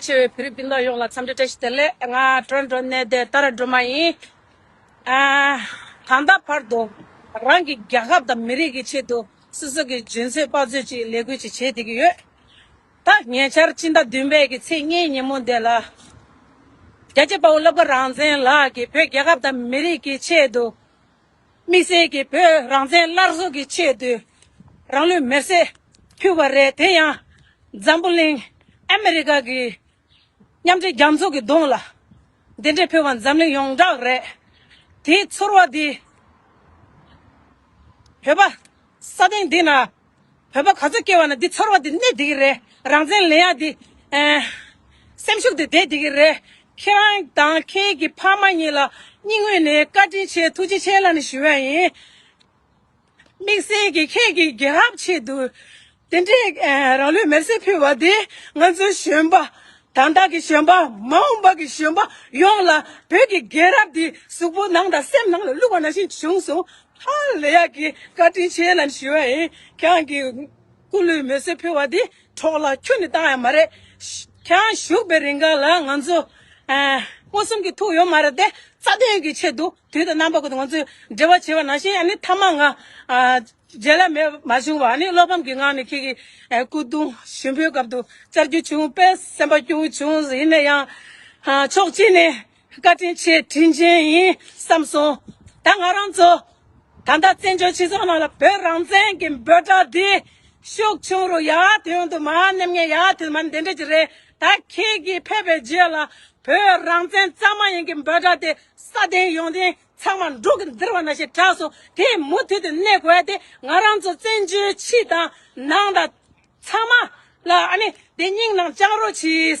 ཆེ་བའི་བོད་རིགས་སྤུན་ཟླ་ཡོངས་ལ་འཚམས་འདྲི་བཀྲ་ཤིས་བདེ་ལེགས། ང་འགྲོ་འགྲོ་གནས་བདེ་ལྟ་ར་འགྲོ་མ་ཡིན། ད་ལྟ་བར་དུ་རང་གི་རྒྱལ་ཁབ་དང་མི་རིགས་ཀྱི་ཆེད་དུ་སོ་སོ་གི་ཇུན་ཚོད་དཔའ་ཚོད་ཀྱིས་ལས་འགུལ་ཅིག་བྱེད་བསྡད་ཀྱི་ཡོད། ད་ཉེ་ཆར་སྤྱི་ཟླ་བདུན་པའི་གི་ཚེས་གཉིས་ཉིན་མོ་འདི་ལ། རྒྱལ་གཅེས་དཔའ་བོ་སློབ་དགའ་རང་བཙན་ལགས་ཀྱིས་བོད་རྒྱལ་ཁབ་དང་མི་རིགས་ཀྱི་ཆེད་དུ། དམིགས་བསལ་གྱིས་བོད་རང་བཙན་སླར་གསོ་གི་ཆེད་དུ་རང་ལུས་མེར་བསྲེགས་ཕུལ་བ་རེད་དེ་ཡང་འཛམ་བུ་གླིང་ཨ་མི་རི་ཀ་གི་མཉམ་འབྲེལ་རྒྱ་མཚོ་གི་གདོང་ལ་དེ་འདྲས་ཕུལ་བ་འཛམ་གླིང་ཡོངས་གྲགས་རེད་དེའི་ཚོར་བ་དེ་བོད་པ་ས་སྟེང་འདི་ན་བོད་པ་ག་ཚོད་སྐྱེ་བ་ན་འདི་ཚོར་བ་དེ་གནས་དེ་གི་རེད་རང་བཙན་ལེན་ཡག་དེ། སེམས་ཤུགས་དེ་ལྡན་དེ་གི་རེད། ཁྱེད་རང་དང་ཁྱེད་ཀྱི་ཕ་མ་གཉིས་ལ་སྙིང་དབུས་ནས་བཀའ་དྲིན་ཆེ་ཐུགས་རྗེ་ཆེ་ལ་ནི་ཞུ་ཡ་ཡིན། དམིགས་བསལ་གྱི་ཁྱེད་ཀྱི་རྒྱལ་རབས་ཆེད་དུ། དེ་འདྲའི་རང་ལུས་མེར་སྲེག་ཕུལ་བ་དེ་ང་ཚོའི་གཞོན་པ། དང་བདག་གི་གཞོན་པ་མ་འོངས་པ་གི་གཞོན་པ་ཡོངས་ལ་བོད་ཀྱི་རྒྱལ་རབས་དེ་གཟུགས་པོ་ནང་དང་སེམས་ནང་ལ་བླུགས་པ་ནང་བཞིན་བྱུང་སོང། ཧ་ལས་ཡག་གི་བཀའ་དྲིན་ཆེ་ལམ་ཞུ་བ་ཡིན་ཁྱེད་གི་སྐུ་ལུས་མེ་གསོད་ཕུལ་བ་དེ་གྲོགས་ལ་ཁྱོད་ནས་བཏང་ཡ་མ་རེད་ཁྱེད་བཞུགས་པའི་རིང་ག་ལ་ང་ཚོ་མངོན་སུམ་གྱི་ཐུག་ཡོད་མ་རེད་དེ་རྩ་དོན་གྱི་ཆེད་དུ་དུས་དང་རྣམ་པ་ཀུན་ཏུ་ང་ཚོས་འབྲེལ་བ་བྱེད་པ་ནང་བཞིན་ནི་མཐའ་མ་ང་རྗེས་ལ་མེད་མ་བྱུང་བ་ནི་བློ་ཕམ་གྱི་ངང་ནས་ཁྱེད་ཀྱི་སྐུ་གདུང་ཞུ་འབུལ་སྐབས་དུ་བཅར་རྒྱུ་བྱུང་བས་སེམས་པ་སྐྱོ་བོ་བྱུང་ཡིན་ན་ཡང་ཕྱོགས་གཅིག་ནས་བཀའ་དྲིན་ཆེ་དྲིན་ཅན་ཡིན་བསམ་སོང། ད་ང་རང་ཚོ་ད་ལྟ་བཙན་བྱོལ་སྤྱི་ཚོགས་ནང་ལ་བོད་རང་བཙན་གྱི་འབོད་སྒྲ་འདི་ཤུགས་ཆུང་རུ་ཡར་ཐོན་དུ་མར་སྣེ་ངན་ཡར་ཐོན་མར་འདེད་འགྲོ་གི་རེད་ད་ཁྱེད་ཀྱིས་ཕེབས་པའི་རྗེས་ལ་བོད་རང་བཙན་རྩ་མ་ཡིན་གྱི་འབོད་སྒྲ་དེ་ས་སྟེང་ཡོང་ཐེངས་ཚང་མ་འབྲུག་གི་འདིར་བ་ན་ཞེས་གྲགས་སོང་དེ་མུ་མཐུད་དུ་གནས་དགོས་དེ་ང་རང་ཚོ་བཙན་བྱོལ་ཕྱི་དང་ནང་དང་ཚང་མ་ལ་ཨ་ནི་དེ་སྙིང་ནང་བཅངས་རོགས་གྱིས།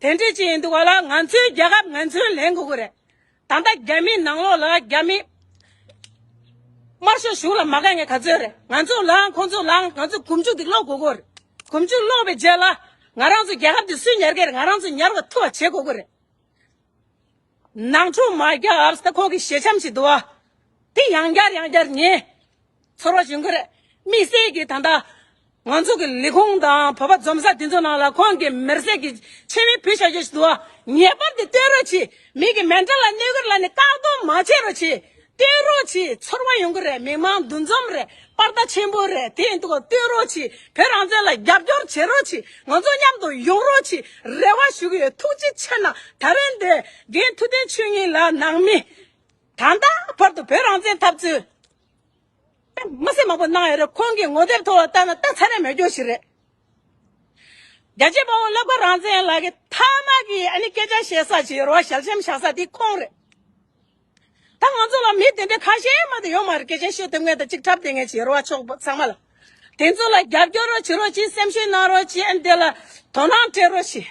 དེ་འདྲི་བྱེད་ཡིན་འདུག་ག་ལ་ང་ཚོའི་རྒྱལ་ཁབ་ངན་ཚུན་ལེན་དགོས་ཀྱི་རེད་ད་ལྟ་རྒྱ་མིའི་ནང་ལོགས་ལ་རྒྱ་མིས་དམར་ཤོག་ཞུགས་ལ་མ་དགའ་ངས་ག་ཚོད་རེད་ང་ཚོ་ལའང་ཁོང་ཚོ་ལའང་ང་ཚོས་གོམ་ཆུ་དེ་སློག་དགོས་ཀྱི་རེད་གོམ་ཆུ་སློག་པའི་རྗེས་ལ་ང་རང་ཚོ་རྒྱལ་ཁབ་དེ་སུས་ཉར་གྱི་རེད་ང་རང་ཚོས་ཉར་བ་ཐུབ་བ་བྱེད་དགོས་ཀྱི་རེད། ནང་ཆོས་མ་རྒྱ་བར་སྟེ་ཁོང་གི་ཞལ་ཆམ་ཞིག་འདུག་ཨ། དེ་ཡང་བསྐྱར་ཡང་བསྐྱར་ཉན། ཚོར་བ་བྱུང་གི་རེད། དམིགས་བསལ་གྱིས་ད་ལྟ། ང་ཚོ་གི་ལས་ཁུངས་དང་བོད་པ་འཛོམས་ས་དེ་ཚོའི་ནང་ལ་ཁོང་གི་མེར་བསྲེགས་ཀྱི་ཆེད་མེ་ཕུལ་བྱ་རྒྱུ་ཞིག་འདུག་ཨ། ངེས་པར་དུ་སྟོན་རོགས་གྱིས། མིག་གི་མེ་འདྲ་ལ་གནས་སྒོར་ལ་ནི་བཀག་སྡོམ་མ་བྱེད་རོགས་གྱིས། བསྟོད་རོགས་གྱིས་ཚོར་བ་ཡོང་གི་རེད་མི་མང་འདུ་འཛོམས་རེད་པར་ད་ཆེན་པོ་རེད་དེ་འདུག་བསྟོད་རོགས་གྱིས་བོད་རང་བཙན་ལ་རྒྱབ་སྐྱོར་བྱེད་རོགས་གྱིས་ང་ཚོ་མཉམ་དུ་ཡོང་རོགས་གྱིས་རེ་བ་ཞུ་གི་ཡོད་ཐུགས་རྗེ་ཆེ་ན་ད་རེ་འདི་དགེ་མཐུ་བསྟན་ཆོས་གཉིས་ལ་ནང་མི་ད་ལྟ་བར་དུ་བོད་རང་བཙན་འཐབ་རྩོད་མི་སེར་མང་པོ་གནང་ཡོད་རེད་ཁོང་གི་ངོ་དེབ་ཐོག་ལ་བལྟ་ན་ལྟ་ཚར་ཡ་མེད་སྐྱོ་ཞིག་རེད་རྒྱལ་གཅེས་དཔའ་བོ་བློ་བཀལ་རང་བཙན་ལགས་ཀྱི་ཐ་མག་གི་ཨ་ནི་སྐད་ཆ་བཤད་ས་བྱེད་རོགས་ཞལ་ཆེམས་བཞག་ས་དེ་ཁོང་རེད། ད་ང་ཚོ་ལ་མི་དེ་འདྲ་ཁ་ཞེ་མ་དེ་ཡོད་མ་རེད་སྐད་ཆ་ཤོད་དེབ་ངེས་དང་ཅིག་འཁྲབ་དེ་ངེས་བྱེད་རོགས་ཕྱོགས་ཚང་མ་ལ། དེ་ཚོ་ལ་རྒྱབ་སྐྱོར་རོགས་བྱེད་རོགས་ཅིག་སེམས་ཤུགས་གནང་རོགས་ཅིག་ཨ་འདི་ལ་དོ་སྣང་སྤྲད་རོགས་ཅིག།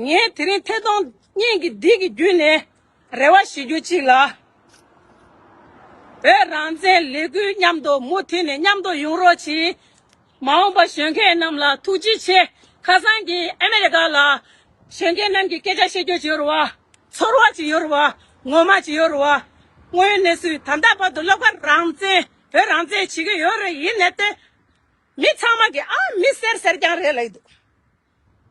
ངས་དེ་རིང་ཐད་གཏོང་བརྙན་གྱི་སྡིག་གི་བརྒྱུད་ནས་རེ་བ་ཞུ་རྒྱུ་གཅིག་ལ། བོད་རང་བཙན་ལས་འགུལ་མཉམ་དུ་མུ་མཐུད་ནས་མཉམ་དུ་ཡོང་རོགས་ཅིག། མ་འོངས་པར་གཞོན་སྐྱེས་རྣམས་ལ་ཐུགས་རྗེ་ཆེ། ཁ་སང་གི་ཨ་མེ་རི་ཀ་ལ། གཞོན་སྐྱེས་རྣམས་ཀྱི་སྐད་ཆ་བཤད་རྒྱུ་ཅི་ཡོད་རུ་བ། ཚོར་བ་ཅི་ཡོད་རུ་བ། ངོ་མ་ཅི་ཡོད་རུ་བ། དངོས་ཡོད་གནས་ཚུལ་ད་ལྟ་བར་དུ་ལོག་པར་རང་བཙན་བོད་རང་བཙན་བྱེད་ཀྱི་ཡོད་རེད་ཡིན་ནའི་ཏེ། མི་ཚང་མ་གིས་ཨ་མི་ཟེར་ཟེར་ཀྱང་རེད་ལ་ཡི་འདུག།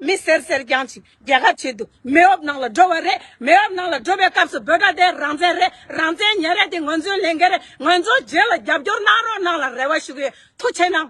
མི་སེར་སེར་རྐྱང་གཅིག་རྒྱལ་ཁ་བྱེད་དུ་མེ་འོབ་ནང་ལ་འགྲོ་བ་རེད་མེ་འོབ་ནང་ལ་འགྲོ་བའི་སྐབས་སུ་བོད་དགྲ་དེ་རང་བཙན་རེད་རང་བཙན་ཉེ་རེད་དེ་ངོས་འཛུན་ལེན་གི་རེད་ངོས་འཛུན་རྗེས་ལ་རྒྱབ་སྐྱོར་གནང་རོགས་གནང་ལ་རེ་བ་ཞུ་གི་ཡོད་ཐུགས་ཆེ་གནང།